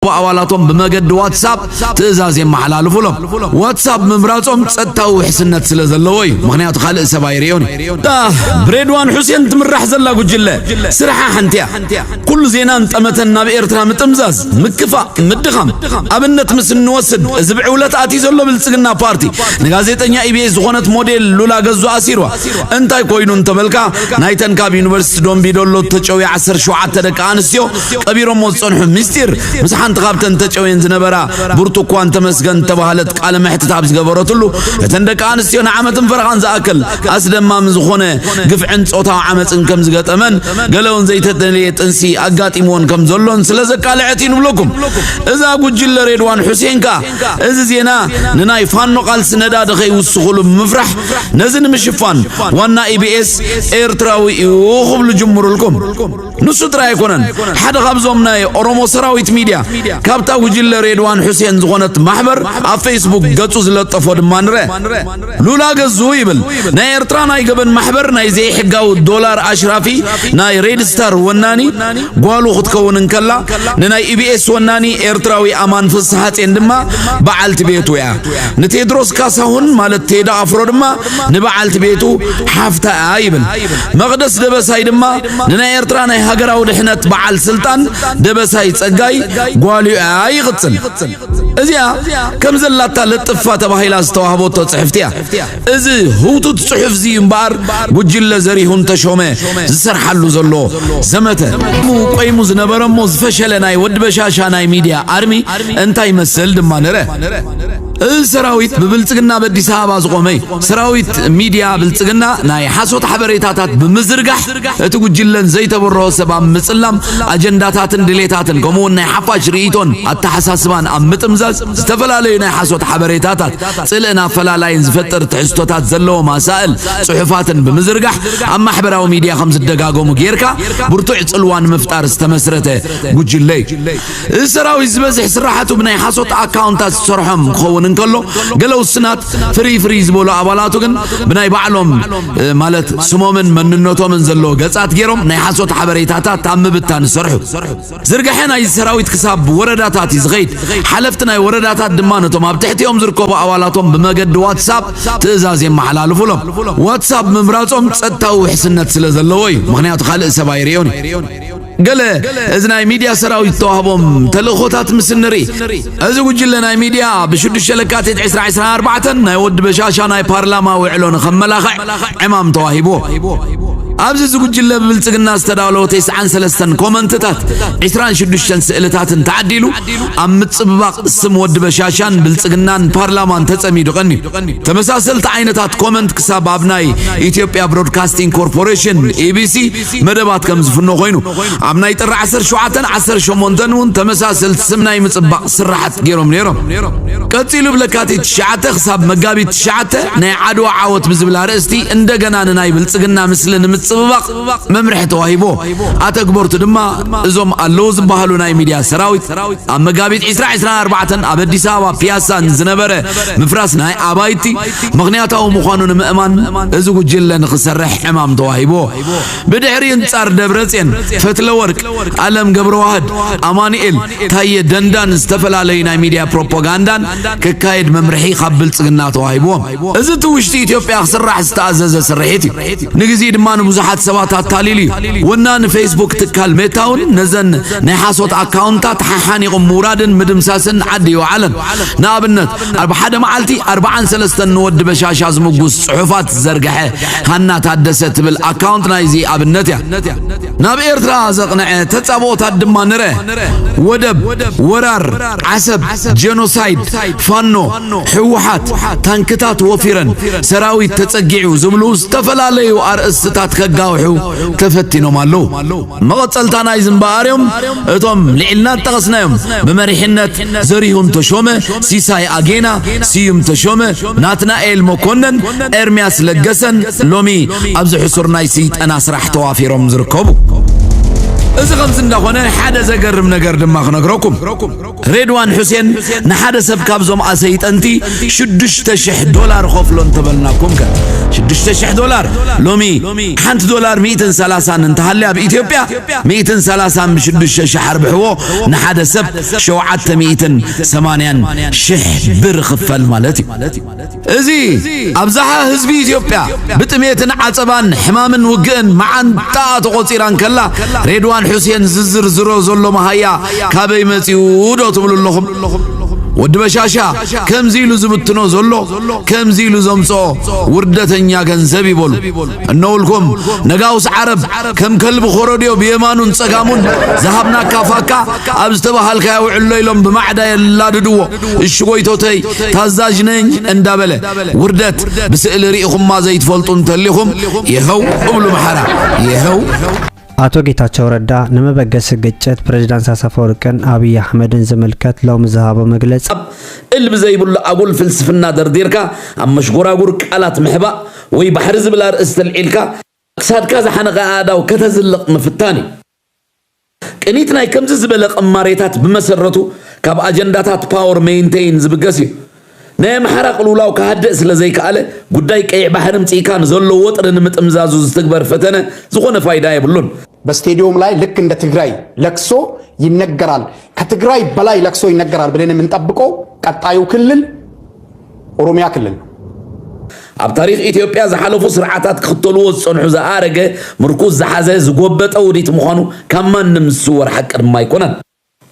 ዝርከቡ ኣባላቶም ብመገዲ ዋትሳፕ ትእዛዝ የመሓላልፉሎም። ዋትሳፕ ምምራፆም ፀጥታዊ ውሕስነት ስለ ዘለዎ እዩ። ምክንያቱ ካልእ ሰብ ኣይርእዮን እዩ። ብሬድዋን ሑሴን ትምራሕ ዘላ ጉጅለ ስርሓ ሓንቲ እያ። ኩሉ ዜናን ጠመተን ናብ ኤርትራ ምጥምዛዝ፣ ምክፋእ፣ ምድኻም። ኣብነት ምስ እንወስድ እዚ ብዕውለት ኣትዩ ዘሎ ብልፅግና ፓርቲ ንጋዜጠኛ ኢቢኤስ ዝኾነት ሞዴል ሉላ ገዙ ኣሲርዋ። እንታይ ኮይኑ እንተበልካ ናይተን ካብ ዩኒቨርሲቲ ዶምቢዶሎ ተጨውያ 17 ደቂ ኣንስትዮ ቀቢሮሞ ዝጸንሑ ምስጢር ምስ ሓንቲ ካብተን ተጨውየን ዝነበራ ብርቱኳን ተመስገን ዝተባህለት ቃለ መሕትት ኣብ ዝገበረትሉ እተን ደቂ ኣንስትዮ ንዓመትን ፈረቓን ዝኣክል ኣስደማሚ ዝኾነ ግፍዕን ጾታዊ ዓመጽን ከም ዝገጠመን ገለውን ዘይተደልየ ጥንሲ ኣጋጢምዎን ከም ዘሎን ስለ ዘቃልዐት እዩ ንብለኩም እዛ ጉጅለ ሬድዋን ሑሴን ከኣ እዚ ዜና ንናይ ፋኖ ቃልሲ ነዳዲ ከይውስኹሉ ብምፍራሕ ነዚ ንምሽፋን ዋና ኢቢኤስ ኤርትራዊ እዩ ክብሉ ጅምሩልኩም ንሱ ጥራይ ኣይኮነን ሓደ ካብዞም ናይ ኦሮሞ ሰራዊት ሚድያ ካብታ ጉጅለ ሬድዋን ሑሴን ዝኾነት ማሕበር ኣብ ፌስቡክ ገጹ ዝለጠፎ ድማ ንረ ሉላ ገዙ ይብል ናይ ኤርትራ ናይ ገበን ማሕበር ናይ ዘይሕጋዊ ዶላር ኣሽራፊ ናይ ሬድ ስታር ወናኒ ጓሉ ክትከውን እንከላ ንናይ ኢቢኤስ ወናኒ ኤርትራዊ ኣማን ፍስሓጼን ድማ በዓልቲ ቤቱ እያ ንቴድሮስ ካሳሁን ማለት ቴዳ ኣፍሮ ድማ ንበዓልቲ ቤቱ ሓፍታ እያ ይብል መቕደስ ደበሳይ ድማ ንናይ ኤርትራ ናይ ሃገራዊ ድሕነት በዓል ስልጣን ደበሳይ ጸጋይ ጓሉያ ይቕጽል። እዚኣ ከም ዘላታ ለጥፋ ተባሂላ ዝተዋህበቶ ጽሕፍቲ እያ። እዚ ህውቱት ጽሑፍ እዚ እምበኣር ጉጅለ ዘሪሁን ተሾመ ዝሰርሓሉ ዘሎ ዘመተ ቆይሙ ዝነበረ እሞ ዝፈሸለ ናይ ወዲ በሻሻ ናይ ሚድያ ኣርሚ እንታይ ይመስል ድማ ንረ እዚ ሰራዊት ብብልጽግና ኣብ ኣዲስ ኣበባ ዝቖመ እዩ። ሰራዊት ሚድያ ብልጽግና ናይ ሓሶት ሓበሬታታት ብምዝርጋሕ እቲ ጉጅለን ዘይተበረሆ ሰብ ኣብ ምጽላም ኣጀንዳታትን ድሌታትን ከምኡውን ናይ ሓፋሽ ርእይቶን ኣተሓሳስባን ኣብ ምጥምዛዝ ዝተፈላለዩ ናይ ሓሶት ሓበሬታታት ጽልእን ኣፈላላይን ዝፈጥር ትሕዝቶታት ዘለዎም ኣሳእል ጽሑፋትን ብምዝርጋሕ ኣብ ማሕበራዊ ሚድያ ከም ዝደጋገሙ ጌርካ ብርቱዕ ጽልዋ ንምፍጣር ዝተመስረተ ጉጅለ እዩ። እዚ ሰራዊት ዝበዝሕ ስራሓቱ ብናይ ሓሶት ኣካውንታት ዝሰርሖም ክኸውን እንከሎ ገለ ውስናት ፍርይ ፍርይ ዝበሉ ኣባላቱ ግን ብናይ ባዕሎም ማለት ስሞምን መንነቶምን ዘለዎ ገጻት ገይሮም ናይ ሓሶት ሓበሬታታት ኣብ ምብታን ዝሰርሑ ዝርግሐ ናይ ሰራዊት ክሳብ ወረዳታት እዩ ዝኸይድ ሓለፍቲ ናይ ወረዳታት ድማ ነቶም ኣብ ትሕቲኦም ዝርከቡ ኣባላቶም ብመገዲ ዋትሳፕ ትእዛዝ የመሓላልፉሎም ዋትሳፕ ምምራጾም ጸጥታዊ ውሕስነት ስለ ዘለዎ እዩ ምክንያቱ ካልእ ሰብ ኣይርእዮን እዩ ገለ እዚ ናይ ሚድያ ሰራዊት ዝተዋህቦም ተልእኾታት ምስ ንርኢ እዚ ጉጅለ ናይ ሚድያ ብሽዱሽተ ለካቲት 2024 ናይ ወዲ በሻሻ ናይ ፓርላማ ውዕሎ ንኸመላኽዕ ዕማም ተዋሂብዎ ኣብዚ እዚ ጉጅለ ብብልፅግና ዝተዳለወ ተስዓን ሰለስተን ኮመንትታት 26 ስእልታትን ተዓዲሉ ኣብ ምፅብባቕ ስም ወዲ በሻሻን ብልፅግናን ፓርላማን ተፀሚዱ ቀንዩ ተመሳሰልቲ ዓይነታት ኮመንት ክሳብ ኣብ ናይ ኢትዮጵያ ብሮድካስቲንግ ኮርፖሬሽን ኢቢሲ መደባት ከም ዝፍኖ ኮይኑ ኣብ ናይ ጥሪ ዓሰርተ ሸውዓተን ዓሰርተ ሸሞንተን እውን ተመሳሰልቲ ስም ናይ ምፅባቕ ስራሓት ገይሮም ነይሮም ቀፂሉ ብለካቲት ትሽዓተ ክሳብ መጋቢት ትሽዓተ ናይ ዓድዋ ዓወት ብዝብል ኣርእስቲ እንደገና ንናይ ብልፅግና ምስሊ ንምፅብባቕ መምርሒ ተዋሂቦ ኣተግበርቱ ድማ እዞም ኣለዉ ዝበሃሉ ናይ ሚድያ ሰራዊት ኣብ መጋቢት 2024 ኣብ ኣዲስ ኣበባ ፒያሳ ንዝነበረ ምፍራስ ናይ ኣባይቲ ምኽንያታዊ ምዃኑ ንምእማን እዚ ጉጅለ ንኽሰርሕ ዕማም ተዋሂብዎ። ብድሕሪ እንጻር ደብረጼን፣ ፈትለወርቅ፣ ኣለም ገብረዋህድ፣ ኣማኑኤል፣ ታየ ደንዳን ዝተፈላለዩ ናይ ሚድያ ፕሮፖጋንዳን ክካየድ መምርሒ ካብ ብልጽግና ተዋሂብዎም። እዚ እቲ ውሽጢ ኢትዮጵያ ክስራሕ ዝተኣዘዘ ስርሒት እዩ። ንግዜኢ ድማ ንብዙሓት ሰባት ኣታሊሉ እዩ። ወናኒ ፌስቡክ ትካል ሜታ እውን ነዘን ናይ ሓሶት ኣካውንታት ሓሓኒቑ ምውራድን ምድምሳስን ዓዲ ኣይወዓለን። ንኣብነት ኣብ ሓደ መዓልቲ ኣርብዓን ሰለስተን ንወዲ በሻሻ ዝምጉስ ጽሑፋት ዝዘርግሐ ሃና ታደሰ ትብል ኣካውንት ናይዚ ኣብነት እያ ናብ ኤርትራ ዘቕንዐ ተጻብኦታት ድማ ንረ ወደብ ወራር ዓሰብ ጄኖሳይድ ፋኖ ሕወሓት ታንክታት ወፊረን ሰራዊት ተጸጊዑ ዝብሉ ዝተፈላለዩ ኣርእስትታት ከጋውሑ ተፈቲኖም ኣለዉ መቐጸልታ ናይዚ እምበኣርዮም እቶም ልዒልና ዝጠቐስናዮም ብመሪሕነት ዘሪሁን ተሾመ፣ ሲሳይ ኣጌና፣ ስዩም ተሾመ፣ ናትናኤል መኮነን፣ ኤርምያስ ለገሰን ሎሚ ኣብዚ ሕሱር ናይ ስይጠና ስራሕ ተዋፊሮም ዝርከቡ። እዚ ከምዚ እንዳኾነ ሓደ ዘገርም ነገር ድማ ክነግረኩም። ሬድዋን ሑሴን ንሓደ ሰብ ካብዞም ኣሰይጠንቲ ሽዱሽተ ሽሕ ዶላር ኸፍሎ እንተበልናኩም ከ ሽዱሽተ ሽሕ ዶላር ሎሚ ሓንቲ ዶላር ሚእትን ሰላሳን እንተሃልያ ኣብ ኢትዮጵያ ሚእትን ሰላሳን ብሽዱሽተ ሽሕ ኣርብሕዎ ንሓደ ሰብ ሸውዓተ ሚእትን ሰማንያን ሽሕ ብር ኽፈል ማለት እዩ እዚ ኣብዝሓ ህዝቢ ኢትዮጵያ ብጥሜትን ዓጸባን ሕማምን ውግእን መዓንጣኣ ተቖጺራ እንከላ ሬድዋን ሑሴን ዝዝርዝሮ ዘሎ መሃያ ካበይ መጺኡ ዶ ትብሉ ኣለኹም? ወዲ በሻሻ ከምዚ ኢሉ ዝብትኖ ዘሎ ከምዚ ኢሉ ዘምጽኦ ውርደተኛ ገንዘብ ይበሉ እነውልኩም ነጋውስ ዓረብ ከም ከልቢ ኮረድዮ ብየማኑን ጸጋሙን ዝሃብናካ ፋካ ኣብ ዝተባሃልካዮ ውዕሎ ኢሎም ብማዕዳ የላድድዎ እሺ ጎይቶተይ ታዛዥ ነኝ እንዳበለ ውርደት ብስእሊ ርኢኹማ ዘይትፈልጡ እንተሊኹም ይኸው እብሉ መሓራ ይኸው ኣቶ ጌታቸው ረዳ ንመበገሲ ግጭት ፕሬዚዳንት ኣሳፈ ወርቅን ኣብይ ኣሕመድን ዝምልከት ሎሚ ዝሃቦ መግለፂ እል ብዘይብሉ ኣጉል ፍልስፍና ደርዲርካ ኣብ መሽጎራጉር ቃላት ምሕባእ ወይ ባሕሪ ዝብል ኣርእስቲ ኣልዒልካ ክሳድካ ዝሓነቐ ኣእዳው ከተዝልቕ ምፍታን እዩ። ቅኒት ናይ ከምዚ ዝበለ ቅማሬታት ብመሰረቱ ካብ ኣጀንዳታት ፓወር መይንተይን ዝብገስ እዩ። ናይ ኣምሓራ ቅልውላው ክሃድእ ስለዘይከኣለ ጉዳይ ቀይሕ ባሕሪ ምጺእካ ንዘሎ ወጥሪ ንምጥምዛዙ ዝትግበር ፈተነ ዝኾነ ፋይዳ የብሉን። በስቴድዮም ላይ ልክ እንደ ትግራይ ለቅሶ ይነገራል ከትግራይ በላይ ለቅሶ ይነገራል ብለን የምንጠብቀው ቀጣዩ ክልል ኦሮሚያ ክልል ነው። ኣብ ታሪኽ ኢትዮጵያ ዝሓለፉ ስርዓታት ክኽተልዎ ዝጸንሑ ዝኣረገ ምርኩስ ዝሓዘ ዝጎበጠ ውዲት ምዃኑ ካብ ማንም ዝስወር ሓቂ ድማ ኣይኮነን።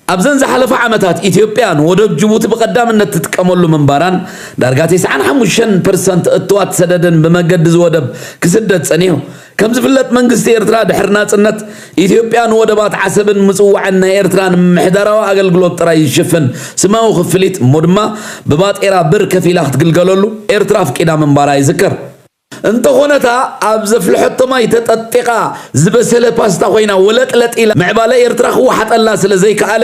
ኣብዘን ዝሓለፋ ዓመታት ኢትዮጵያ ንወደብ ጅቡቲ ብቐዳምነት ትጥቀመሉ ምንባራን ዳርጋ ቴስዓን ሓሙሽተን ፐርሰንት እቶት ሰደድን ብመገዲ እዚ ወደብ ክስደድ ጸኒሑ ከም ዝፍለጥ መንግስቲ ኤርትራ ድሕሪ ናጽነት፣ ኢትዮጵያ ንወደባት ዓሰብን ምጽዋዕን ናይ ኤርትራ ንምምሕዳራዊ ኣገልግሎት ጥራይ ዝሽፍን ስማዊ ክፍሊት እሞ ድማ ብባጤራ ብር ከፊላ ክትግልገለሉ ኤርትራ ኣፍቂዳ ምንባራ ይዝከር። እንተኾነ እታ ኣብ ዘፍልሐቶ ማይ ተጠጢቓ ዝበሰለ ፓስታ ኮይና ወለጥለጥ ኢላ ምዕባለ ኤርትራ ክወሓጠላ ስለ ዘይከኣለ፣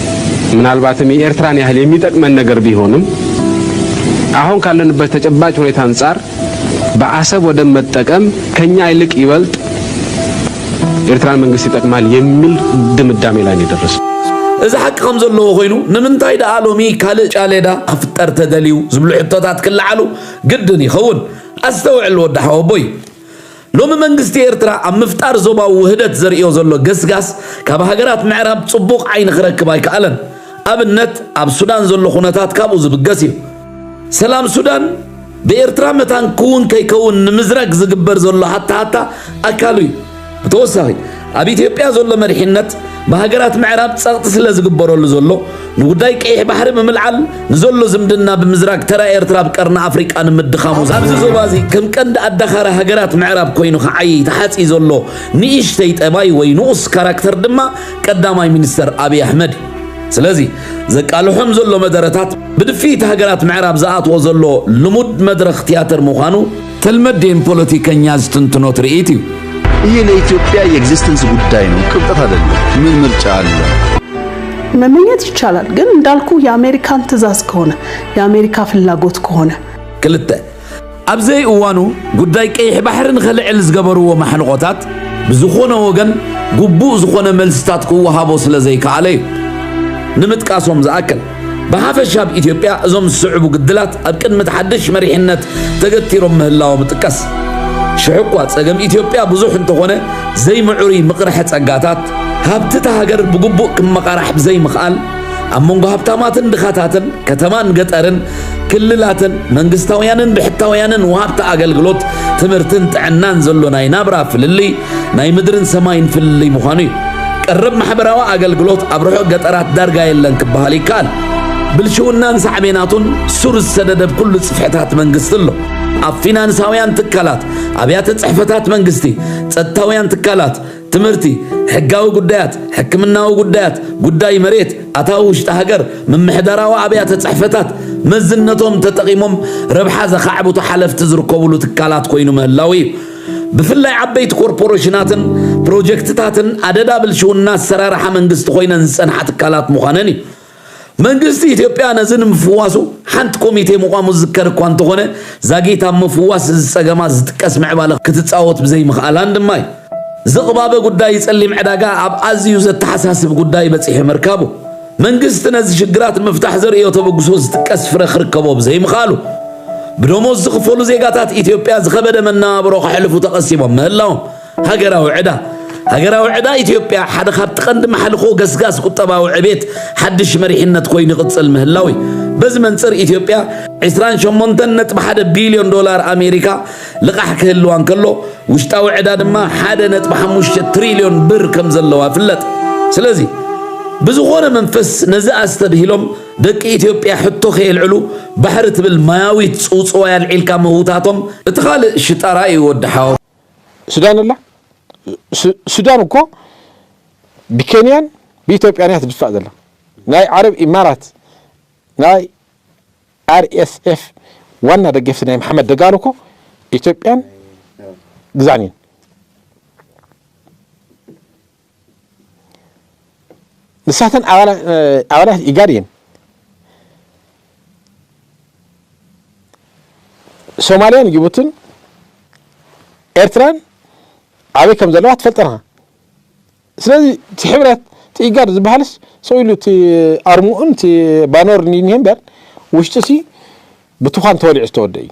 ምናልባትም የኤርትራን ያህል የሚጠቅመን ነገር ቢሆንም አሁን ካለንበት ተጨባጭ ሁኔታ አንጻር በአሰብ ወደብ መጠቀም ከኛ ይልቅ ይበልጥ ኤርትራን መንግስት ይጠቅማል የሚል ድምዳሜ ላይ ነው የደረሰው። እዚ ሓቂ ከም ዘለዎ ኮይኑ ንምንታይ ደኣ ሎሚ ካልእ ጫሌዳ ክፍጠር ተደልዩ ዝብሉ ሕቶታት ክለዓሉ ግድን ይኸውን። ኣስተውዕል ወዲ ሓወቦይ። ሎሚ መንግስቲ ኤርትራ ኣብ ምፍጣር ዞባዊ ውህደት ዘርእዮ ዘሎ ገስጋስ ካብ ሃገራት ምዕራብ ጽቡቕ ዓይኒ ክረክብ ኣይከኣለን። ኣብነት ኣብ ሱዳን ዘሎ ኩነታት ካብኡ ዝብገስ እዩ። ሰላም ሱዳን ብኤርትራ መታን ክውን ከይከውን ንምዝራግ ዝግበር ዘሎ ሃታሃታ ኣካሉ እዩ። ብተወሳኺ፣ ኣብ ኢትዮጵያ ዘሎ መሪሕነት ብሃገራት ምዕራብ ጸቕጢ ስለ ዝግበረሉ ዘሎ ንጉዳይ ቀይሕ ባሕሪ ብምልዓል ንዘሎ ዝምድና ብምዝራግ ተራ ኤርትራ ኣብ ቀርኒ ኣፍሪቃ ንምድኻሙ ኣብዚ ዞባ እዚ ከም ቀንዲ ኣዳኻሪ ሃገራት ምዕራብ ኮይኑ ክዓይይ ተሓጽዩ ዘሎ ንእሽተይ ጠባይ ወይ ንኡስ ካራክተር ድማ ቀዳማይ ሚኒስተር ኣብይ ኣሕመድ እዩ። ስለዚ ዘቃልሖም ዘሎ መደረታት ብድፍኢት ሃገራት ምዕራብ ዝኣትዎ ዘሎ ልሙድ መድረኽ ትያትር ምዃኑ ተልመዴን ፖለቲከኛ ዝትንትኖ ትርኢት እዩ። ይሄ ለኢትዮጵያ የኤግዚስተንስ ጉዳይ ነው፣ ቅብጠት አይደለም። ምን ምርጫ አለ? መመኘት ይቻላል፣ ግን እንዳልኩ የአሜሪካን ትእዛዝ ከሆነ የአሜሪካ ፍላጎት ከሆነ ክልተ ኣብ ዘይእዋኑ ጉዳይ ቀይሕ ባሕሪ ንኸልዕል ዝገበርዎ ማሕንቖታት ብዝኾነ ወገን ግቡእ ዝኾነ መልስታት ክወሃቦ ስለ ዘይከኣለ እዩ ንምጥቃሶም ዝኣክል ብሓፈሻ ኣብ ኢትዮጵያ እዞም ዝስዕቡ ግድላት ኣብ ቅድሚ እቲ ሓድሽ መሪሕነት ተገቲሮም ምህላዎም እጥቀስ። ሽሕ እኳ ጸገም ኢትዮጵያ ብዙሕ እንተኾነ ዘይምዕሩይ ምቕርሐ ጸጋታት ሃብቲ እታ ሃገር ብግቡእ ክመቓራሕ ብዘይምኽኣል ኣብ መንጎ ሃብታማትን ድኻታትን ከተማን ገጠርን ክልላትን መንግስታውያንን ብሕታውያንን ወሃብቲ ኣገልግሎት ትምህርትን ጥዕናን ዘሎ ናይ ናብራ ፍልልይ ናይ ምድርን ሰማይን ፍልልይ ምዃኑ እዩ። ቀረብ ማሕበራዊ ኣገልግሎት ኣብ ርሑቕ ገጠራት ዳርጋ የለን ክበሃል ይከኣል። ብልሽውናን ሳዕቤናቱን ሱር ዝሰደደ ኣብ ኩሉ ጽፍሕታት መንግስቲ ኣሎ። ኣብ ፊናንሳውያን ትካላት፣ ኣብያተ ጽሕፈታት መንግስቲ፣ ጸጥታውያን ትካላት፣ ትምህርቲ፣ ሕጋዊ ጉዳያት፣ ሕክምናዊ ጉዳያት፣ ጉዳይ መሬት፣ ኣታዊ ውሽጢ ሃገር፣ ምምሕዳራዊ ኣብያተ ጽሕፈታት መዝነቶም ተጠቒሞም ረብሓ ዘኻዕብቱ ሓለፍቲ ዝርከቡሉ ትካላት ኮይኑ ምህላዉ እዩ። ብፍላይ ዓበይቲ ኮርፖሬሽናትን ፕሮጀክትታትን ኣደዳ ብልሽውና ኣሰራርሓ መንግስቲ ኮይነን ዝፀንሓ ትካላት ምዃነን እዩ። መንግስቲ ኢትዮጵያ ነዚ ንምፍዋሱ ሓንቲ ኮሚቴ ምቋሙ ዝዝከር እኳ እንተኾነ ዛጊት ኣብ ምፍዋስ እዚ ፀገማት ዝጥቀስ ምዕባለ ክትፃወት ብዘይምኽኣላን ድማ እዩ። ዝቕባበ ጉዳይ ፀሊም ዕዳጋ ኣብ ኣዝዩ ዘተሓሳስብ ጉዳይ በፂሑ ምርካቡ መንግስቲ ነዚ ሽግራት ንምፍታሕ ዘርእዮ ተበግሶ ዝጥቀስ ፍረ ክርከቦ ብዘይምኽኣሉ፣ ብደሞዝ ዝኽፈሉ ዜጋታት ኢትዮጵያ ዝኸበደ መነባብሮ ከሕልፉ ተቐሲቦም ምህላዎም ሃገራዊ ዕዳ ሃገራዊ ዕዳ ኢትዮጵያ ሓደ ካብቲ ቀንዲ ማሕልኾ ገስጋስ ቁጠባዊ ዕቤት ሓድሽ መሪሕነት ኮይኑ ይቕጽል ምህላዊ በዚ መንጽር ኢትዮጵያ 28.1 ቢልዮን ዶላር ኣሜሪካ ልቓሕ ክህልዋ እንከሎ ውሽጣዊ ዕዳ ድማ ሓደ ነጥቢ ሓሙሽተ ትሪልዮን ብር ከም ዘለዋ ይፍለጥ። ስለዚ ብዝኾነ መንፈስ ነዚ ኣስተብሂሎም ደቂ ኢትዮጵያ ሕቶ ከየልዕሉ ባሕሪ ትብል ማያዊት ጽውጽዋይ ኣልዒልካ ምህውታቶም እቲ ካልእ ሽጣራ እዩ ወዲ ሓው። ሱዳን ኣላ ሱዳን እኮ ብኬንያን ብኢትዮጵያን እያ ትድፋእ ዘላ ናይ ዓረብ ኢማራት ናይ RSF ዋና ደገፍቲ ናይ መሓመድ ደጋሎ እኮ ኢትዮጵያን ግዛን እዩን። ንሳተን ኣባላት ኢጋድ እየን። ሶማልያን ጅቡትን ኤርትራን ኣበይ ከም ዘለዋ ትፈልጠን ኢኻ። ስለዚ እቲ ሕብረት እቲ ኢጋድ ዝበሃልስ ሰው ኢሉ እቲ ኣርምኡን እቲ ባነሩን እዩ እኒሀ እምበር ውሽጡሲ ብቱዃን ተወሊዑ ዝተወደእ እዩ።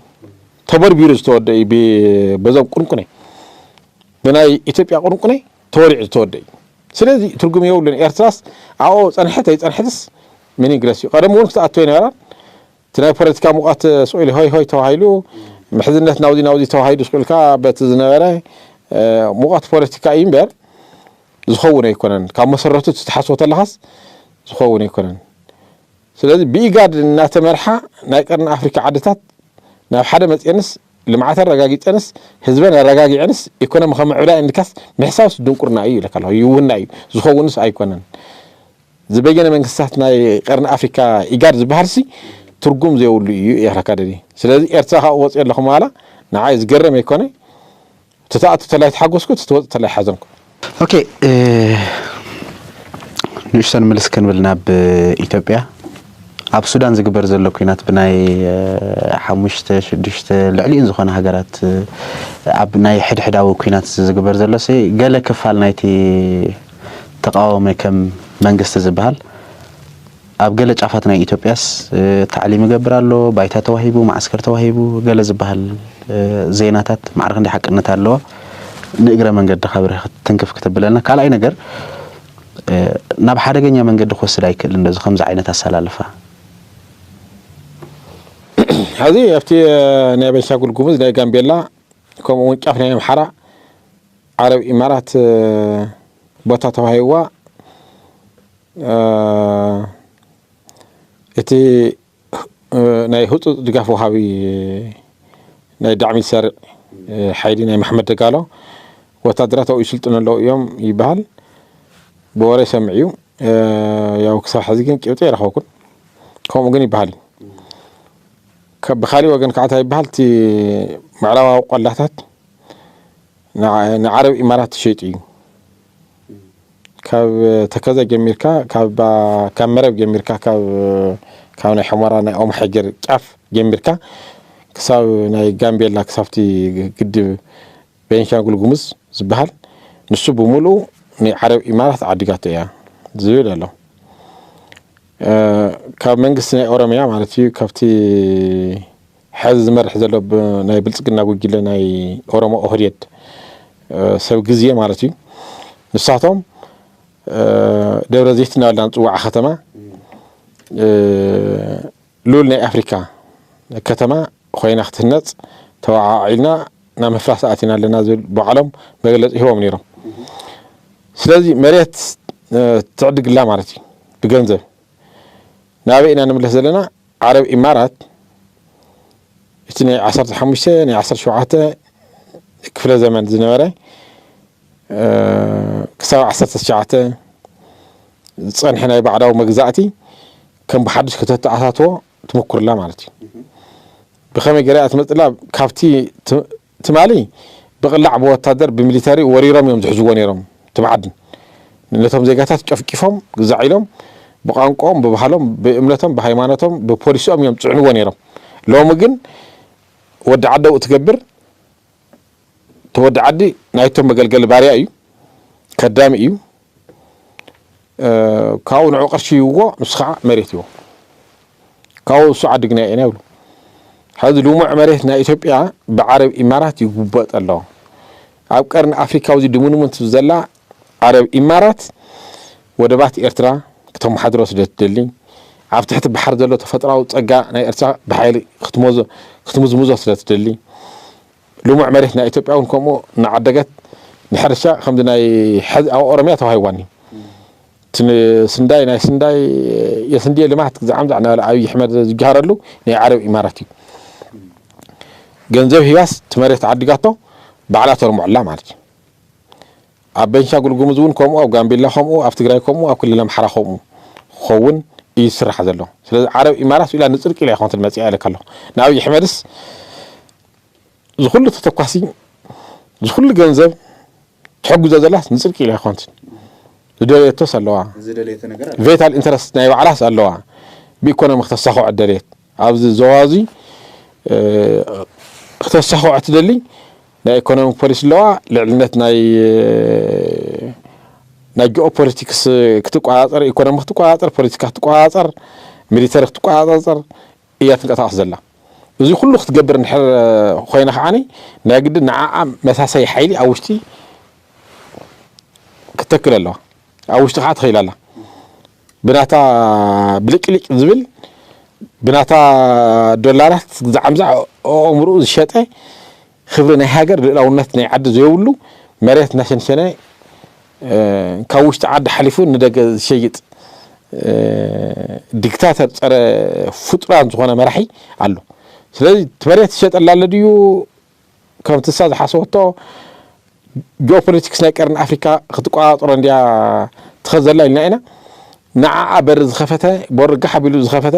ተበርቢሩ ዝተወደእ እዩ በዞም ቁንቁኔ ብናይ ኢትዮጵያ ቁንቁኔ ተወሊዑ ዝተወደእ እዩ። ስለዚ ትርጉም የብሉን ኤርትራስ ኣብኡ ፀንሐት ኣይፀንሐትስ ምን ይግደስ እዩ። ቀደም እውን ክትኣቱ ኣይነበራን እቲ ናይ ፖለቲካ ሙቐት ስቁኢሉ ሆይ ሆይ ተባሂሉ ምሕዝነት ናብዚ ናብዚ ተባሂሉ ስቁኢልካ በቲ ዝነበረ ሙቐት ፖለቲካ እዩ እምበር ዝኸውን ኣይኮነን ካብ መሰረቱ እቲ ትሓስቦ ተለኻስ ዝኸውን ኣይኮነን ስለዚ ብኢጋድ እናተመርሓ ናይ ቀርኒ ኣፍሪካ ዓድታት ናብ ሓደ መፅኤንስ ልምዓት ኣረጋጊፀንስ ህዝበን ኣረጋጊዐንስ ኢኮኖሚ ከምዕብላ እንካስ ምሕሳብስ ድንቁርና እዩ ይብለካ ኣለኹ ይውና እዩ ዝኸውንስ ኣይኮነን ዝበየነ መንግስታት ናይ ቀርኒ ኣፍሪካ ኢጋድ ዝበሃልሲ ትርጉም ዘይብሉ ኢዩ ኤርትራ ካደዲ ስለዚ ኤርትራ ካብኡ ወጽዮ ኣለኹ ምባላ ንዓይ ዝገረም ኣይኮነ ትተኣቱ ተላይ ተሓጎስኩ ትትወጽእ ተላይ ሓዘንኩ ኦኬ ንእሽቶ ንምልስ ክንብል ናብ ኢትዮጵያ ኣብ ሱዳን ዝግበር ዘሎ ኩናት ብናይ ሓሙሽተ ሽዱሽተ ልዕሊኡን ዝኾነ ሃገራት ኣብ ናይ ሕድሕዳዊ ኩናት ዝግበር ዘሎ ገለ ክፋል ናይቲ ተቃዋሚ ከም መንግስቲ ዝብሃል ኣብ ገለ ጫፋት ናይ ኢትዮጵያስ ታዕሊም ይገብር ኣሎ፣ ባይታ ተዋሂቡ፣ መዓስከር ተዋሂቡ ገለ ዝብሃል ዜናታት ማዕረ ክንደይ ሓቅነት ኣለዎ ንእግረ መንገድኻ ብርህ ትንክፍ ክተብለልና። ካልኣይ ነገር ናብ ሓደገኛ መንገዲ ክወስድ ኣይክእልን ዶ እዚ ከምዚ ዓይነት ኣሰላልፋ? ሐዚ ኣብቲ ናይ ቤንሻጉል ጉሙዝ ናይ ጋምቤላ ከምኡ ውን ጫፍ ናይ ኣምሓራ ዓረብ ኢማራት ቦታ ተዋሂብዋ እቲ ናይ ህፁፅ ድጋፍ ወሃቢ ናይ ዳዕሚ ሰሪዕ ሓይሊ ናይ ማሕመድ ደጋሎ ወታደራት ኣብኡ ይስልጥኑ ኣለዉ እዮም ይበሃል ብወረ ሰምዕ እዩ ያው ክሳብ ሕዚ ግን ጭብጢ ኣይረኸብኩን ከምኡ ግን ይበሃል ብካሊእ ወገን ከዓታ ይበሃል እቲ ምዕራባዊ ቆላታት ንዓረብ ኢማራት ትሸይጡ እዩ ካብ ተከዘ ጀሚርካ ካብ መረብ ጀሚርካ ካብ ናይ ሕሞራ ናይ ኦም ሓጀር ጫፍ ጀሚርካ ክሳብ ናይ ጋምቤላ ክሳብቲ ግድብ ቤንሻንጉል ጉሙዝ ዝበሃል ንሱ ብምልኡ ናይ ዓረብ ኢማራት ዓዲጋቶ እያ ዝብል ኣሎ ካብ መንግስቲ ናይ ኦሮሚያ ማለት እዩ ካብቲ ሐዚ ዝመርሕ ዘሎ ናይ ብልፅግና ጉጅለ ናይ ኦሮሞ ኦህዴድ ሰብ ግዜ ማለት እዩ ንሳቶም ደብረ ዘይት እናበልና ንፅዋዓ ከተማ ልኡል ናይ ኣፍሪካ ከተማ ኮይና ክትህነፅ ተወዓዒልና ናብ ምፍራስ ኣቲና ኣለና ዝብል ባዕሎም መግለፂ ሂቦም ነይሮም ስለዚ መሬት ትዕድግላ ማለት እዩ ብገንዘብ ናበይ ኢና ንምለስ ዘለና ዓረብ ኢማራት እቲ ናይ ዓሰርተ ሓሙሽተ ናይ ዓሰርተ ሸውዓተ ክፍለ ዘመን ዝነበረ ክሳብ ዓሰርተ ትሽዓተ ዝፀንሐ ናይ ባዕዳዊ መግዛእቲ ከም ብሓዱሽ ከተተኣታትዎ ትምኩርላ ማለት እዩ ብኸመይ ገይራ እያ ትመፅላ ካብቲ ትማሊ ብቅላዕ ብወታደር ብሚሊተሪ ወሪሮም እዮም ዝሕዝዎ ነይሮም እቲ መዓድን ነቶም ዜጋታት ጨፍጪፎም ግዛዕ ኢሎም ብቋንቆኦም ብባህሎም ብእምነቶም ብሃይማኖቶም ብፖሊስኦም እዮም ዝፅዕንዎ ነይሮም ሎሚ ግን ወዲ ዓደው እትገብር እቲ ወዲ ዓዲ ናይቶም መገልገሊ ባርያ እዩ ከዳሚ እዩ ካብኡ ንዑ ቅርሺ ይብዎ ንሱ ከዓ መሬት ይቦ ካብኡ እሱ ዓድግና ኢና ይብሉ ሕዚ ልሙዕ መሬት ናይ ኢትዮጵያ ብዓረብ ኢማራት ይጉበጥ ኣሎ ኣብ ቀርኒ ኣፍሪካ ውዚ ድሙንሙንት ዘላ ዓረብ ኢማራት ወደባት ኤርትራ ክተመሓድሮ ስለ ትደሊ ኣብ ትሕቲ ባሕር ዘሎ ተፈጥራዊ ፀጋ ናይ ኤርትራ ብሓይሊ ክትምዝምዞ ስለ ትደሊ ልሙዕ መሬት ናይ ኢትዮጵያ እውን ከምኡ እናዓደገት ንሕርሻ ከምዚ ናይ ሕዚ ኣብ ኦሮምያ ተዋሂቧኒ እቲ ስንዳይ ናይ ስንዳይ የስንድየ ልማት ግዛዓምዛዕ እናበለ ኣብዪ ኣሕመድ ዝጀሃረሉ ናይ ዓረብ ኢማራት እዩ ገንዘብ ሂባስ እቲ መሬት ዓዲጋቶ ባዕላ ተርምዖላ ማለት እዩ ኣብ ቤንሻንጉል ጉሙዝ እውን ከምኡ ኣብ ጋምቤላ ከምኡ ኣብ ትግራይ ከምኡ ኣብ ክልል ኣምሓራ ከምኡ ክኸውን እዩ ዝስራሕ ዘሎ ስለዚ ዓረብ ኢማራት ኢላ ንፅድቂ ኢላ ይኮንትን መፅኣ ኢለካ ኣለኹ ንኣብዪ ኣሕመድስ ዝኹሉ ተተኳሲ ዝኹሉ ገንዘብ ትሕግዞ ዘላስ ንጽድቂ ኢላ ኣይኮንትን ዝደለየቶስ ኣለዋ ዝደለየቶ ነገር ኣለዋ ቬታል ኢንተረስት ናይ ባዕላስ ኣለዋ ብኢኮኖሚ ክተሳኽዖ ደልየት ኣብዚ ዞባ እዚ ክተሳኽዖ ትደሊ ናይ ኢኮኖሚ ፖሊሲ ኣለዋ ልዕልነት ናይ ናይ ጂኦ ፖለቲክስ ክትቆጻጸር ኢኮኖሚ ክትቆጻጸር ፖለቲካ ክትቆጻጸር ሚሊተሪ ክትቆጻጸር እያ ትንቀሳቐስ ዘላ። እዚ ኩሉ ክትገብር እንድሕር ኮይና ከዓኒ ናይ ግድን ንዓኣ መሳሰዪ ሓይሊ ኣብ ውሽጢ ክትተክል ኣለዋ። ኣብ ውሽጢ ከዓ ተኺላ ኣላ። ብናታ ብልቅሊቅ ዝብል ብናታ ዶላራት ዝዓምዛዕ ኣእምርኡ ዝሸጠ ኽብሪ ናይ ሃገር ልእላውነት ናይ ዓዲ ዘዮብሉ መሬት እናሸንሸነ ካብ ውሽጢ ዓዲ ሓሊፉ ንደገ ዝሸይጥ ዲክታተር ፀረ ፍጡራን ዝኾነ መራሒ ኣሎ ስለዚ እቲ መሬት ዝሸጠላ ኣሎ ድዩ ከምቲ እሳ ዝሓሰበቶ ጂኦፖለቲክስ ናይ ቀርኒ ኣፍሪካ ክትቆፃፀሮ እንድያ ትኸድ ዘላ ኢልና ኢና ንዓኣ በሪ ዝኸፈተ ቦርጋሕ ኣቢሉ ዝኸፈተ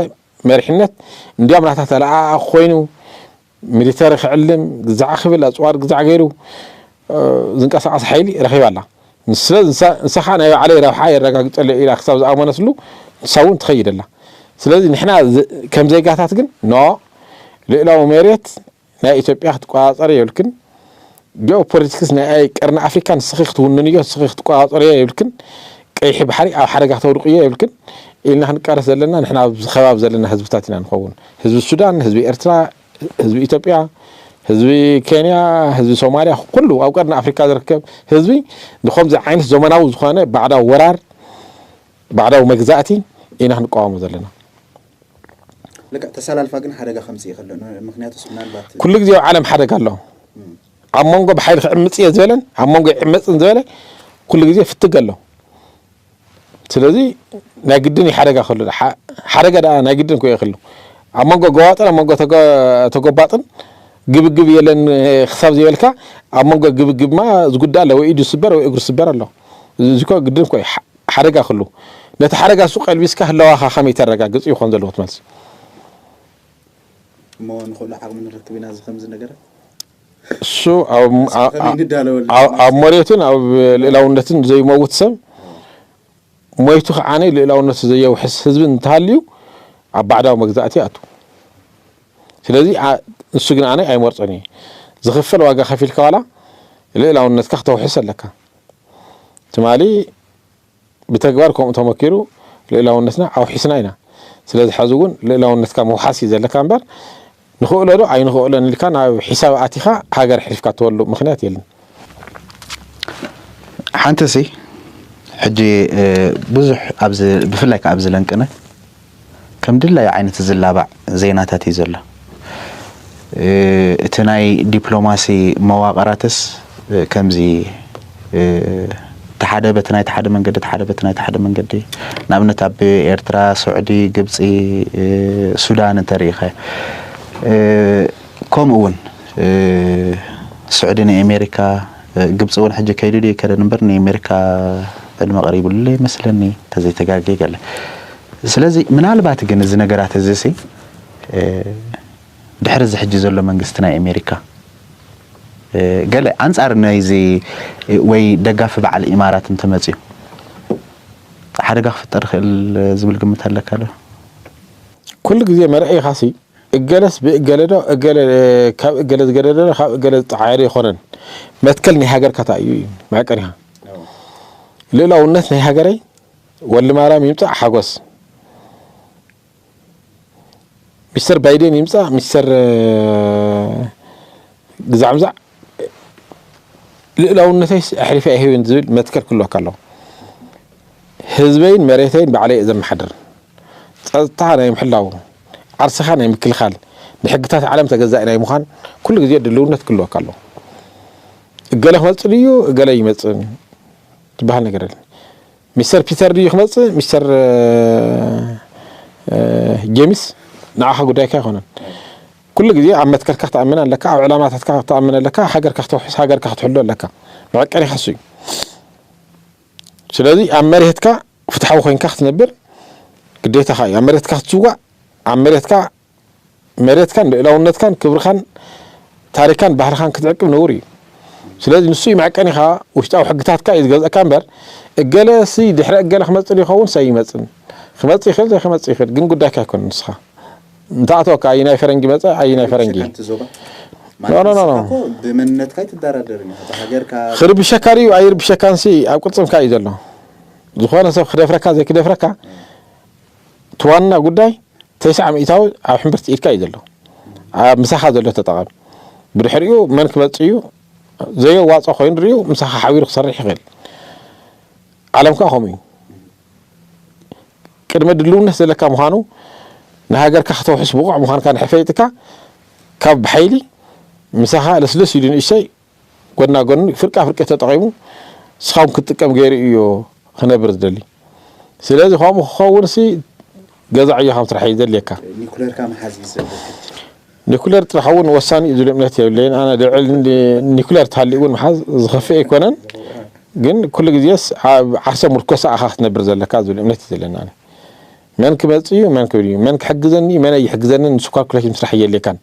መሪሕነት እንዲያም ናታ ተለኣኣ ኮይኑ ሚሊተሪ ክዕልም ግዛዕ ክብል ኣፅዋር ግዛዕ ገይሩ ዝንቀሳቐስ ሓይሊ ረኺባ ኣላ። ስለ ንሳ ከዓ ናይ ባዕለይ ረብሓ የረጋግፀለይ ኢላ ክሳብ ዝኣመነትሉ ንሳ እውን ትኸይድ ኣላ። ስለዚ ንሕና ከም ዜጋታት ግን ኖ ልእላዊ መሬት ናይ ኢትዮጵያ ክትቆፃፀሪ የብልክን ጂኦ ፖለቲክስ ናይ ቀርኒ ኣፍሪካ ንስኺ ክትውንንዮ ንስኺ ክትቆፃፀርዮ የብልክን ቀይሒ ባሕሪ ኣብ ሓደጋ ክተውድቅዮ የብልክን ኢልና ክንቃለስ ዘለና ንሕና ኣብዚ ከባቢ ዘለና ህዝብታት ኢና ንኸውን ህዝቢ ሱዳን ህዝቢ ኤርትራ ህዝቢ ኢትዮጵያ ህዝቢ ኬንያ ህዝቢ ሶማልያ ኩሉ ኣብ ቀርኒ ኣፍሪካ ዝርከብ ህዝቢ ንከምዚ ዓይነት ዘመናዊ ዝኾነ ባዕዳዊ ወራር ባዕዳዊ መግዛእቲ ኢና ክንቃወሞ ዘለና ልክዕ ተሳላልፋ ግን ሓደጋ ከምጽእ ይኸል ምክንያቱስ ምናልባት ኩሉ ግዜ ኣብ ዓለም ሓደጋ ኣሎ ኣብ መንጎ ብሓይሊ ክዕምፅ እየ ዝበለን ኣብ መንጎ ይዕመፅን ዝበለ ኩሉ ግዜ ፍትግ ኣሎ ስለዚ ናይ ግድን እዩ ሓደጋ ከሉ ሓደጋ ደኣ ናይ ግድን ኮ ይክሉ ኣብ መንጎ ገዋጥን ኣብ መንጎ ተጎባጥን ግብግብ የለን ክሳብ ዘይበልካ ኣብ መንጎ ግብግብማ ዝጉዳእ ኣለ ወይ ኢዱ ስበር ወይ እግሪ ስበር ኣሎ እዚ ኮ ግድን ኮ እዩ ሓደጋ ክሉ ነቲ ሓደጋ እሱ ቀልቢስካ ህላዋኻ ከመይ ተረጋግጽ እዩ ክኾን ዘለዎ እቲ መልሲ። እሞ ንኹሉ ዓቕሚ ንረክብ ኢና እዚ ከምዚ ነገራት እሱ ኣብ እስከ ከመይ ንዳለወሉ ኣብ ኣብ ንመጽእ መሬቱን ኣብ ልእላውነትን ዘይመውት ሰብ ሞይቱ ከዓኒ ልእላውነቱ ዘየውሕስ ህዝቢ እንተሃልዩ ኣብ ባዕዳዊ መግዛእቲ ይኣቱ። ስለዚ ኣ- ንሱ ግን ኣነ ኣይመርጾን እየ። ዝኽፈል ዋጋ ከፊልካ ዋላ ልእላውነትካ ክተውሕስ ኣለካ። ትማሊ ብተግባር ከምኡ ተመኪሩ ልእላውነትና ኣውሒስና ኢና። ስለዚ ሐዚ እውን ልእላውነትካ ምውሓስ እዩ ዘለካ እምበር ንኽእሎ ዶ ኣይንኽእሎን ኢልካ ናብ ሒሳብ ኣቲኻ ሃገር ሕልፍካ እትበሉ ምኽንያት የለን። ሓንቲ ሲ ሕጂ ብዙሕ ኣብዚ ብፍላይ ከዓ ኣብዚ ለንቅነ ከም ድላዩ ዓይነት ዝላባዕ ዜናታት እዩ ዘሎ። እቲ ናይ ዲፕሎማሲ መዋቕራትስ ከምዚ ተሓደ በቲ ናይቲ ሓደ መንገዲ ተሓደ በቲ ናይቲ ሓደ መንገዲ ንኣብነት ኣብ ኤርትራ፣ ሱዕዲ፣ ግብጺ፣ ሱዳን እንተሪኢኻዮ ከምኡውን ሱዕዲ ንኤሜሪካ ግብጺ ውን ሕጂ ከይዱ ድዩ ኣይከደን እምበር ናይ ኣሜሪካ ዕድመ ቀሪብሉ ይመስለኒ ተዘይ ተጋጌ ገለ ስለዚ ምናልባት ግን እዚ ነገራት እዚ ሲ ድሕሪ እዚ ሕጂ ዘሎ መንግስቲ ናይ ኣሜሪካ ገለ ኣንጻር ናይዚ ወይ ደጋፊ በዓል ኢማራት እንተመጽዩ ሓደጋ ክፍጠር ይኽእል ዝብል ግምት ኣለካ ዶ? ኩሉ ግዜ መርዒኻሲ እገለስ ብእገለዶ እገለ ካብ እገለ ዝገደደዶ ካብ እገለ ዝጠዓየዶ ኣይኮነን መትከል ናይ ሃገርካ ታይ እዩ እዩ መዕቀኒኻ ልእላውነት ናይ ሃገረይ ወሊ ማርያም ይምፃእ ሓጎስ ሚስተር ባይደን ይምፃእ ሚስተር ግዛዕምዛዕ ልእላውነተይ ኣሕሊፈ ኣይህብን ዝብል መትከል ክህልወካ ኣለዎ ህዝበይን መሬተይን ባዕለይ እየ ዘመሓድር ጸጥታ ናይ ምሕላው፣ ዓርስኻ ናይ ምክልኻል፣ ንሕግታት ዓለም ተገዛኢ ናይ ምዃን ኩሉ ግዜ ድልውነት ክህልወካ ኣለዎ። እገለ ክመጽእ ድዩ እገለ ኣይመጽእን ዝበሃል ነገር የለን። ሚስተር ፒተር ድዩ ክመጽእ ሚስተር ጀሚስ ንዓኻ ጉዳይካ ኣይኮነን። ኩሉ ግዜ ኣብ መትከልካ ክትኣምን ኣለካ፣ ኣብ ዕላማታትካ ክትኣምን ኣለካ፣ ሃገርካ ክተውሕስ ሃገርካ ክትሕሉ ኣለካ። መዐቀኒኻ እሱ እዩ። ስለዚ ኣብ መሬትካ ፍትሓዊ ኮይንካ ክትነብር ግዴታኻ እዩ። ኣብ መሬትካ ክትስዋእ፣ ኣብ መሬትካ መሬትካን ልእላውነትካን ክብርኻን ታሪካን ባህልኻን ክትዕቅብ ነውሪ እዩ። ስለዚ ንሱ እዩ መዕቀኒኻ፣ ውሽጣዊ ሕግታትካ እዩ ዝገዝእካ እምበር እገለ ሲ ድሕሪ እገለ ክመጽእ ዶ ይኸውን ሰ ይመጽን ክመጽእ ይኽእል ዘይክመጽእ ይኽእል ግን ጉዳይካ ኣይኮነን ንስኻ እንተኣተወካ ኣየናይ ፈረንጂ መጸ ኣየናይ ፈረንጂ ሓንቲ ዞባ ኖ ኖ ኖ ኖ ብመንነትካ ኣይትደራደርን ኢኻ ሃገርካ ክርብሸካ ድዩ ኣይርብሸካን ሲ ኣብ ቅልጽምካ እዩ ዘሎ ዝኾነ ሰብ ክደፍረካ ዘይክደፍረካ እቲ ዋና ጉዳይ ተስዓ ሚእታዊ ኣብ ሕምብርቲ ኢድካ እዩ ዘሎ ኣብ ምሳኻ ዘሎ ተጠቐም ብድሕሪኡ መን ክመጽ እዩ ዘየዋጾ ኮይኑ ድሪኡ ምሳኻ ሓቢሩ ክሰርሕ ይኽእል ዓለም ከዓ ከምኡ እዩ ቅድመ ድልውነት ዘለካ ምዃኑ ንሃገርካ ከተውሕስ ብቑዕ ምዃንካ ድሕሪ ፈሊጥካ ካብ ብሓይሊ ምሳኻ ለስለስ ኢሉ ንእሽተይ ጎና ጎኒ ፍርቃ ፍርቂ ተጠቒሙ ንስኻውን ክትጥቀም ገይሩ እዩ ክነብር ዝደሊ ስለዚ ከምኡ ክኸውንሲ ገዛ ዕዮ ካብ ስራሕ እዩ ዘድልየካ ኒኩለርካ መሓዝ እዩ ዘለካ ኒኩለር ጥራሕ እውን ወሳኒ እዩ ዝብል እምነት የብለይን ኣነ ልዕል ኒኩለር ተሃልዩ እውን ምሓዝ ዝኸፍእ ኣይኮነን ግን ኩሉ ግዜስ ኣብ ዓርሰ ሙርኮሳ ኢኻ ክትነብር ዘለካ ዝብል እምነት እዩ ዘለኒ ኣነ መን ክመጽእ እዩ መን ክብል እዩ መን ክሕግዘኒ እዩ መን ኣይሕግዘንን ንሱ ኳልኩሌሽን ምስራሕ እየድልየካን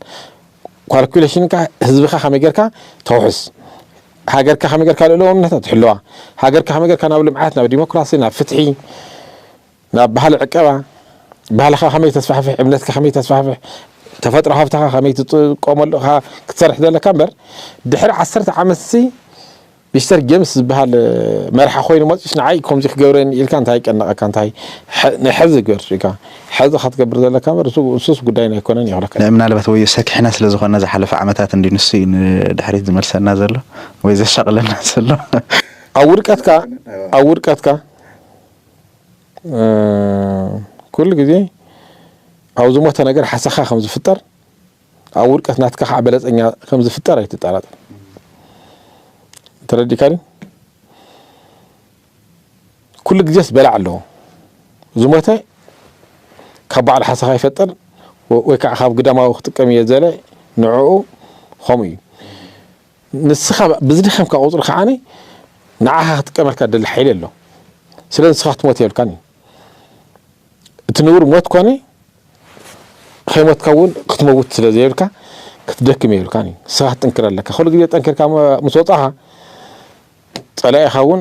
ኳልኩሌሽንካ ህዝብኻ ከመይ ጌርካ ተውሕስ ሃገርካ ከመይ ጌርካ ልእለውነታ ትሕልዋ ሃገርካ ከመይ ጌርካ ናብ ልምዓት ናብ ዲሞክራሲ ናብ ፍትሒ ናብ ባህሊ ዕቀባ፣ ባህልኻ ከመይ ተስፋሕፍሕ፣ እምነትካ ከመይ ተስፋሕፍሕ፣ ተፈጥሮ ሃብትኻ ከመይ ትጥቀመሉ እኻ ክትሰርሕ ዘለካ እምበር፣ ድሕሪ ዓሰርተ ዓመትሲ ሚስተር ጀምስ ዝበሃል መራሒ ኮይኑ መጺኡስ ንዓይ ከምዚ ክገብረ እየ ኢልካ እንታይ ይጨነቐካ እንታይ ናይ ሕዚ ግበር ርኢካ ሕዚ እኻ ትገብር ዘለካ እምበር እሱስ ጉዳይና ኣይኮነን እየ ክብለካ። ምናልባት ወዮ ሰኪሕና ስለ ዝኾንና ዝሓለፈ ዓመታት እንድዩ ንሱ እዩ ንድሕሪት ዝመልሰና ዘሎ ወይ ዘሻቕለና ዘሎ። ኣብ ውድቀትካ ኣብ ውድቀትካ። ኩሉ ግዜ ኣብ ዝሞተ ነገር ሓሰኻ ከም ዝፍጠር ኣብ ውድቀት ናትካ ከዓ በለፀኛ ከም ዝፍጠር ኣይትጠራጠር። ተረዲእካኒ? ኩሉ ግዜስ በላዕ ኣለዎ። ዝሞተ ካብ ባዕሉ ሓሰኻ ይፈጥር ወይ ከዓ ካብ ግዳማዊ ክጥቀም እየ ዘለ ንዕኡ ከምኡ እዩ። ንስኻ ብዝደኸምካ ቁፅሪ ከዓ ንዓኻ ክጥቀመልካ ዝደሊ ሓይሊ ኣሎ ስለ ንስኻ ክትሞት የብልካን እዩ እቲ ንቡር ሞት ኮነ ከይሞትካ እውን ክትመውት ስለ ዘየብልካ ክትደክም የብልካን እዩ ንስኻ ክትጥንክር ኣለካ ኩሉ ግዜ ጠንኪርካ ምስ ወፃኻ ፀላኢኻ እውን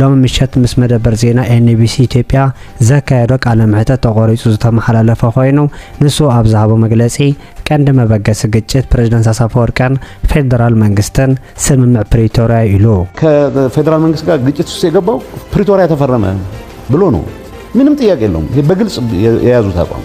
ሎሚ ምሸት ምስ መደበር ዜና ኤንቢሲ ኢትዮጵያ ዘካየዶ ቃለ መሕተት ተቖሪፁ ዝተመሓላለፈ ኮይኑ ንሱ ኣብ ዝሃቦ መግለፂ ቀንዲ መበገሲ ግጭት ፕረዚደንት ኣሳፈወርቅን ፌደራል መንግስትን ስምምዕ ፕሪቶርያ እዩ ኢሉ። ከፌደራል መንግስት ጋር ግጭት ውስጥ የገባው ፕሪቶሪያ ተፈረመ ብሎ ነው። ምንም ጥያቄ የለውም። በግልጽ የያዙት አቋም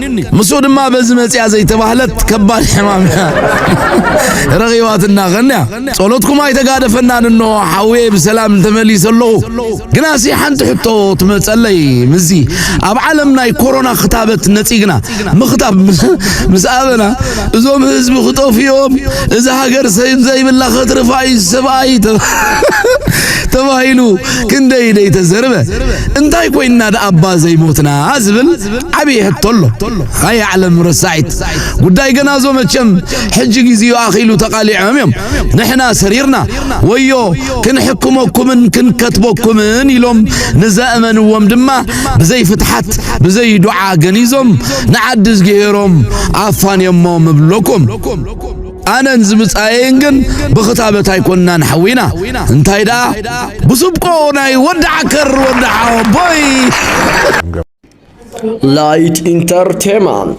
ኒኒ ምስኡ ድማ በዚ መጽያ ዘይተባህለት ከባድ ሕማም ረኺባትና ኸንያ ጸሎትኩም ኣይተጋደፈናን እኖ ሓውየ ብሰላም እንተመሊሰ ኣለኹ ግናሲ ሓንቲ ሕቶ ትመጸለይ ምስዚ ኣብ ዓለም ናይ ኮሮና ክታበት ነጺግና ምኽታብ ምስ ኣበና እዞም ህዝቢ ክጠፍኦም እዚ ሃገር ሰብ ዘይብላ ከትርፋ እዩ ሰብኣይ ተባሂሉ ክንደይ ደይ ተዘርበ እንታይ ኮይንና ደኣባ ዘይሞትና ዝብል ዓብይ ሕቶ ኣሎ ኣይ ዓለም ረሳዒት ጉዳይ ገና ዞ መቸም ሕጂ ግዜኡ ኣኺሉ ተቓሊዖም እዮም ንሕና ሰሪርና ወዮ ክንሕክመኩምን ክንከትበኩምን ኢሎም ንዘእመንዎም ድማ ብዘይ ፍትሓት ብዘይ ዱዓ ገኒዞም ንዓዲ ዝገሄሮም ኣፋንዮሞ ምብለኩም ኣነን ዝብጻየን ግን ብኽታበት ኣይኮንናን ሓዊና እንታይ ደኣ ብስብቆ ናይ ወዲ ዓከር ወዲ ሓወቦይ ላይት ኢንተርቴመንት